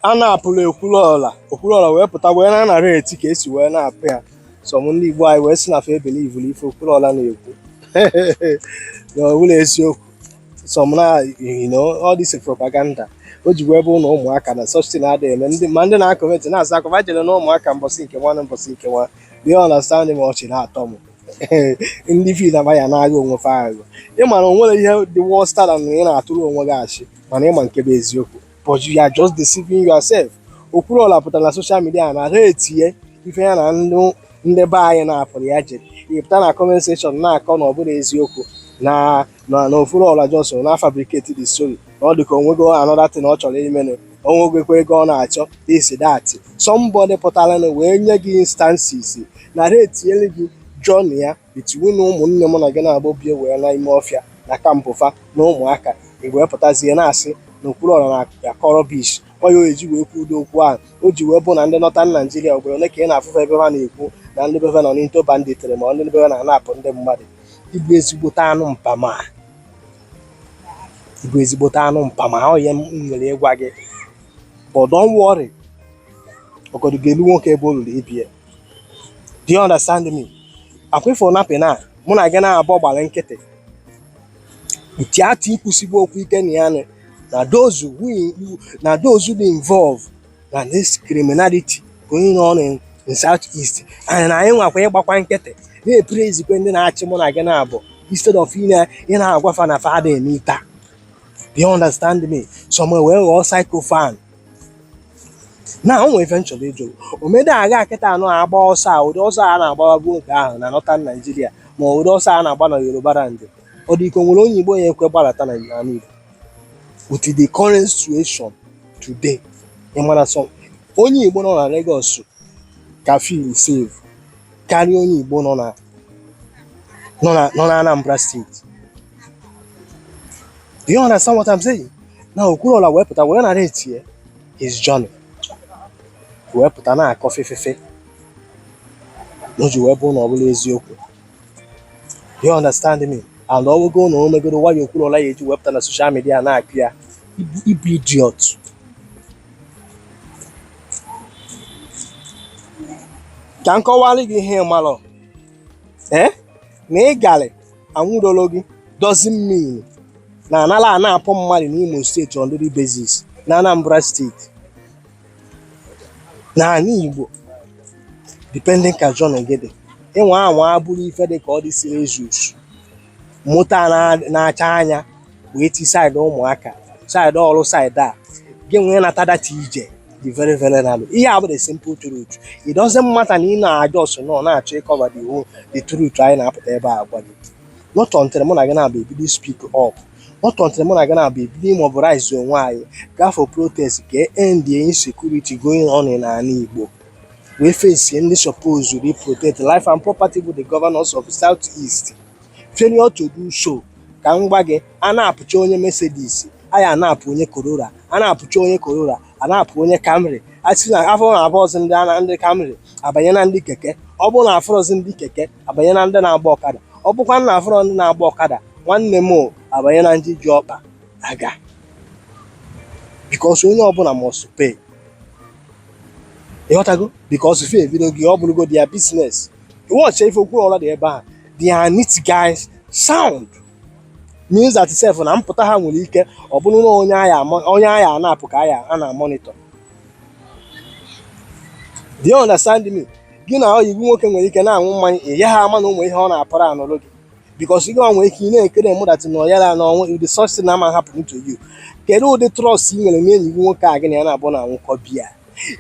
anapụrụ Okwuluọra Okwuluọra wee pụta wee na-anareti ka esi wee napụ ya sọm ndị Igbo anyị wee sị na fa ebelivulu ife Okwuluọra na-ekwu na ọ bụla eziokwu sọm na you know all this propaganda o ji wee bụ na ụmụaka na such thing adịghị eme ndị ma ndị na-akọmenti na-asị akọba jere na ụmụaka mbọsị nke nwa na mbọsị nke nwa do you understand me ọchị na-atọ m ndị feel na ya na-aghọ onwe fa aghụghọ ịma na o nwere ihe dị worse than ị na-atụrụ onwe gị asị mana ịma nke bụ eziokwu but you are just deceiving yourself Okwuluọra pụtara na soshal midia naretie ife ya na ndị ndị be anyị napụrụ ya jere ịpụta na comment section na-akọ na ọ bụla eziokwu na na na Okwuluọra just na fabricate the story na ọ dị ka onwego another thing ọ chọrọ imenụ onwegwekwa ego ọ na-achọ this that somebody pụtara na wee nye gị instances naretiere gị journey ya Between ụmụnne mụ na gị naabọ bie wee na ime ọfịa na kampụ fa na ụmụaka, i wee pụtazie na-asị na Okwuluọra na-akọ rọbish. Ọ ya o eji wee kwuo ụdị okwu ahụ. O ji wee bụ na ndị Nọtan Naịjirịa ugboro ole ka ị na-afụ fa ebe fa na-ekwu na ndị be fa nọ n'into banditịrị ma ọ ndị be fa na-anapụ ndị mmadụ. Ị bụ ezigbote anụ mpama. Ị bụ ezigbote anụ mpama. Ọ ya m nwere ịgwa gị. But don't worry, ọgọdụ ga-elu nwoke ebe o luru ibe ya. do you understand me ọ kwa ife na-happen na mụ na gị naabọ gbara nkịtị instead of ikwusigbu okwu ike na ya na those who na those who involve na this criminality going on in, in south east and na anyị nwakwa ịgbakwa nkịtị na-eprezikwa ndị na-achị mụ na gị naabọ instead of ị na-agwafa na fa adị emeta do you understand me some wee ghọọ sycophant na o nwere ife m chọrọ ịjụ o mede agha kịta a na-agba ọsọ a ụdị ọsọ a na-agbababu oge ahụ na nọtan naijiria ma ọ ụdị ọsọ a na-agba na yoruba land ọ dị ka o nwere onye igbo ya ekwe gbalata na n'ala igbo with the current situation today ị mara sọ onye igbo nọ na Lagos ka feel safe karịa onye igbo nọ na nọ na nọ na Anambra steeti do you understand what I'm saying na Okwuluọra wee pụta wee naretie his journey wee pụta na-akọ fefefe na o ji wee bụ na ọ bụla eziokwu do you understand me and ọwụgo na o megoro wayo Okwuluọra ya eji wee pụta na soshal midia na-akụ ya ị bụ ị bụ idiot ka m kọwara gị ihe ịmalụ ee eh? na ị garị anwụdolo gị doesn't mean na anala anapụ mmadụ n'Imo steeti on daily basis na Anambra steeti na ala Igbo depending ka journey gị dị ịnwa anwa abụrụ ife dị ka ọ dị serious moto a na-acha anya wee ti side ụmụaka side ọrụ side a gị nwee nata data ije dị very very narrow ihe a bụ the simple truth it doesn't matter na ị na-ajọ so nọ na-achọ ịcover the whole the truth anyị na-apụta ebe a gwa gị not until mụ na gị naabọ ebido speak up not until mụ na gị naabọ ebido ịmobilize onwe anyị gaa for protest ka e end insecurity going on n'ala Igbo wee face ndị suppose to protect life and property bụ the governors of South East failure to do so ka m gwa gị a napụcha onye Mercedes a ya-anapụ onye Corolla a napụcha onye Corolla a napụ onye Camry a sị na afụ na afụrọzi ndị ana ndị Camry abanye na ndị keke ọ bụrụ na afụrọzi ndị keke abanye na ndị na-agba ọkada ọ bụkwa na afụrọ ndị na-agba ọkada nwanne m o, abanye na ndị ji ọkpa aga because onye ọbụla must pay ị ghọtago because fa ebidogo ọ bụrụgo their business ị watch ife Okwuluora dị ebe a dia nit guys sound means that self na mpụta ha nwere ike ọ bụrụ na onye a ya-anapụ ka a na-amonitor do you understand me gị na ọyị gị nwoke nwere ike na-aṅụ mmanya ị ya ha ama na o nwe ihe ọ na-aplanụrụ gị because ị nwere ike ị na-ekiri mụ that na ya na o nwe ụdị such thing na ama happen to you kedu ụdị trust ị nwere na enyi gị nwoke a gị na ya naabọ na-aṅụkọ beer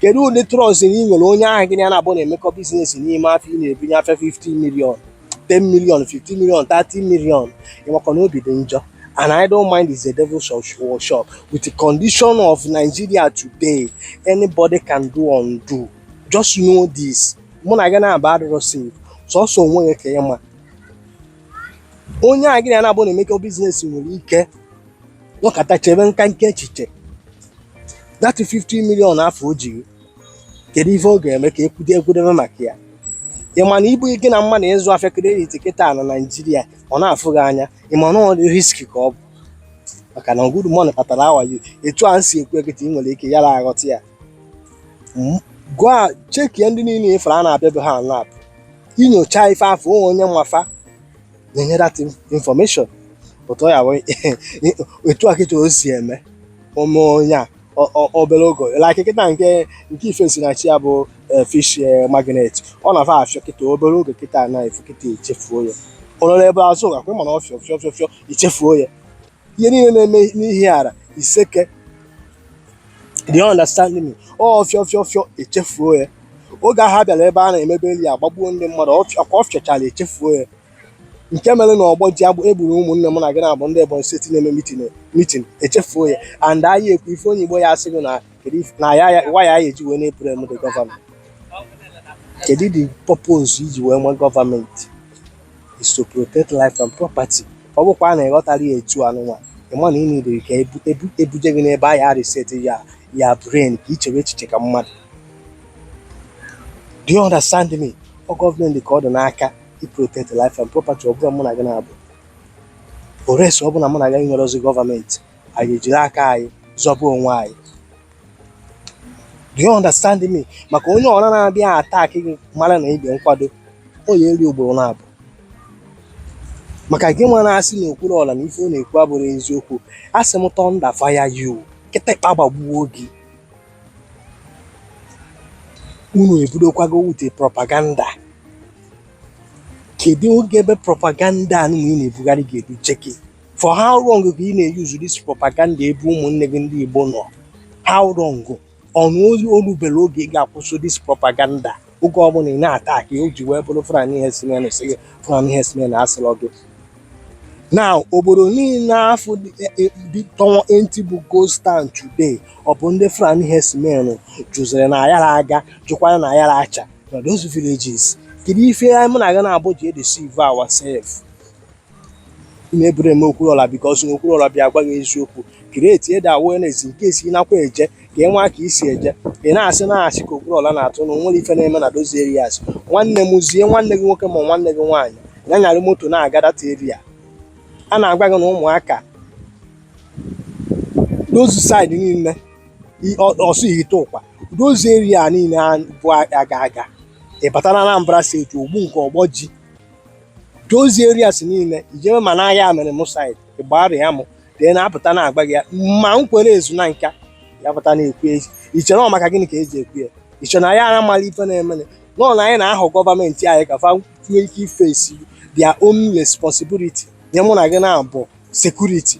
kedu ụdị trust na ị nwere onye ahụ gị na ya naabọ na-emekọ business n'ime afọ ị na-ebunye afịa 15 million 10 million 15 million 30 million ị makwa na obi dị njọ an idle mind is a devil's workshop with the condition of Nigeria today anybody can do undo just know this mụ na gị naabọ adịrọ safe sọsọ onwe gị ka ị ma onye a gị na ya naabọ na-emekọ business nwere ike nọkata chebe nka nke echiche that 50 million afụ o ji gị kedu ife ọ ga-eme ka ekwude ekwudebe maka ya ị ma na ibu gị na mmadụ ịzụ afịa credit kịta na Nigeria ọ na-afụ gị anya ị ma na ọ dị risky ka ọ bụ maka na good morning kpatara how are you etu a m si ekwu ya kịta ị nwere ike yara aghọta ya gaa checkie ndị niile ị fụrụ a na-abịa be ha nap ị nyochaa ife afụ o nwe onye ma fa na-enye that information otu ọ ya bụ etu a kịta o si eme o mee onye a ọ- ọ- obere oge like kịta nke nke Ifesinachi a bụ eh, fish eh, magnet ọ na-afịọ afịọ kịta obere oge kịta na efu kịta echefuo ya Honourable Azuka mana ọ fịọ fịọ fịọ fịọ echefuo ya ihe niile na-eme n'Ihiala Iseke do you understand me ọ fịọ fịọ fịọ echefuo ya oge ahụ a bịara ebe a na-eme burial agbagbuo ndị mmadụ ọ fịọ- ka ọ fịọchara echefuo ya nke mere na Ogboji ebe e gburu ụmụnne m na gị naabọ ndị Ebonyi State na-eme meeting meeting echefuo ya and anyị ekwu ife onye Igbo ya asị gị na kedu if- na ya ya- why e ji wee na-ablame the governor kedu the purpose e ji wee nwee government is to protect life and property ọ bụkwa na ịghọtara ya etu anụnwa ịma na ị nidiri ka ebuje gị n'ebe a ya reset ya brain ka i chewe echiche ka mmadụ do you understand me ọ gọọmenti ka ọ dị n'aka i protect life and property ọ bụrọ mụ na gị naabọ or else ọ bụ na mụ na gị enwerọzi gọọmenti anyị ejiri aka anyị zọba onwe anyị do you understand me maka onye ọra na-abịa attack gị mara na ibe nkwado o ya eri ugboro naabọ maka gị nwa na-asị na Okwuluọra na ife ọ na-ekwu abụrọ eziokwu asị m thunder fire you kịtịkpa gbagbuo gị unu ebidokwago wute propaganda kedu oge ebe propaganda anụnwa ị na-ebugharị ga-eduje gị for how long ka ị na-eyuzu this propaganda ebe ụmụnne gị ndị Igbo nọ how long ọ bụ na o luberọ oge ị ga-akwụsị this propaganda oge ọbụla ị na-ata ka o ji wee bụrụ Fulani herdsmen sị gị Fulani herdsmen asịrọ gị na obodo niile afụ tọwa empty bụ ghost town today ọ bụ ndị Fulani herdsmen jụziri na ayara aga jụkwara na ayara acha na those villages kedu ife mụ na gị naabọ ji edeceive ourselves ị na-eblame Okwuluọra because na Okwuluọra bịa gwa gị eziokwu create the awareness nke esi nakwa eje ka ị nwa ka isi eje ị na-asị na asị ka Okwuluọra na-atụ na o nwere ife na-eme na those areas nwanne m zie nwanne gị nwoke ma nwanne gị nwaanyị ya nyara moto na-aga that area a na-agwa gị na ụmụaka those side niile Ọsụ Ihiteụkwa those area niile bụ aga aga ị batara Anambra state Ogbunka Ogboji those areas niile i jebe ma na Ayamelum side Igbariam ndị na-apụta na-agwa gị ya ma Nkwelle Ezunaka a pụta na-ekwu ya iche na ọ maka gịnị ka eji ekwu ya iche na anyị amarọ ife na-emenụ na anyị na-ayọ gọọmenti anyị ka fa nwee ike iface their own responsibility nye mụ na gị naabọ security